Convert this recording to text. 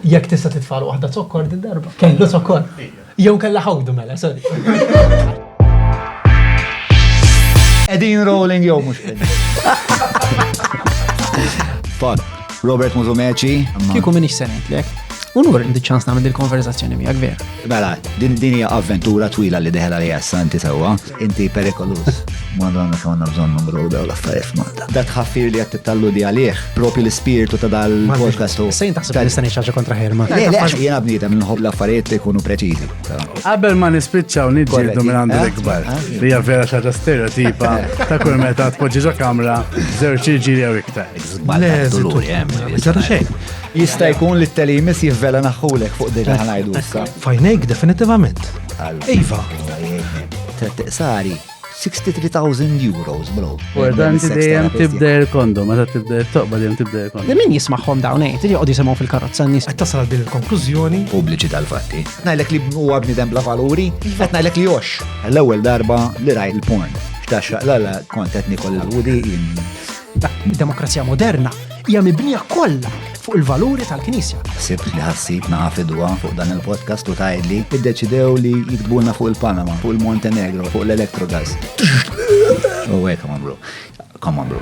Jekk tista' titfal waħda zokkor din darba. Kellu zokkor. Jew kellha ħawdu mela, sorry. Edin rolling jew mhux Fat, Robert Muzumeċi. Kieku minix senetlek. Unur indi ċans nagħmel il-konverzazzjoni miegħek vera. Mela, din hija avventura twila li deħla li jassanti sewwa. Inti perikolus. Madonna kemm għandna bżonn numru daw l-affarijiet f'Malta. Dat ħaffir li qed talludi għalih, propju l-ispirtu ta' dal-podcast u. Sejn taħseb li nista' ngħid kontra ħerma. Le, le, għax jiena bniedem nħobb l-affarijiet li jkunu preċiżi. Qabel ma nispiċċaw niġġieldu minn għandu eh? l-ikbar. Eh? Li hija vera xi ħaġa stereotipa ta' kull meta tpoġġi ġo kamra żewġ ġiri jew iktar. Le, żittu. Ġara xejn. Jista' jkun li t-telimis jivvela naħħulek fuq dik li ħanajdu issa. Fajnejk definitivament. Iva. Tret tiqsari 63,000 euros, bro. Importanti dejjem tibda il-kondom, meta tibda il-toqba dejjem tibda il-kondom. Li min jismaħħom dawn għajt, eh? li joqgħod jisimgħu fil-karozza n-nies. Qed tasal din il-konklużjoni. Pubbliċi tal-fatti. Ngħidlek li huwa bniedem bla valuri, qed ngħidlek li jox. L-ewwel darba li rajt il-porn. X'taxxaq la la kont qed nikol il-wudi Id-demokrazija moderna hija mibnija kollha fuq il-valuri tal-Knisja. Sibt li ħassib naqa' fidwa fuq dan il-podcast u tgħidli iddeċidew li jiktbulna fuq il-Panama, fuq il-Montenegro, fuq l-Electrogas. U hekk, come on bro. Come on bro.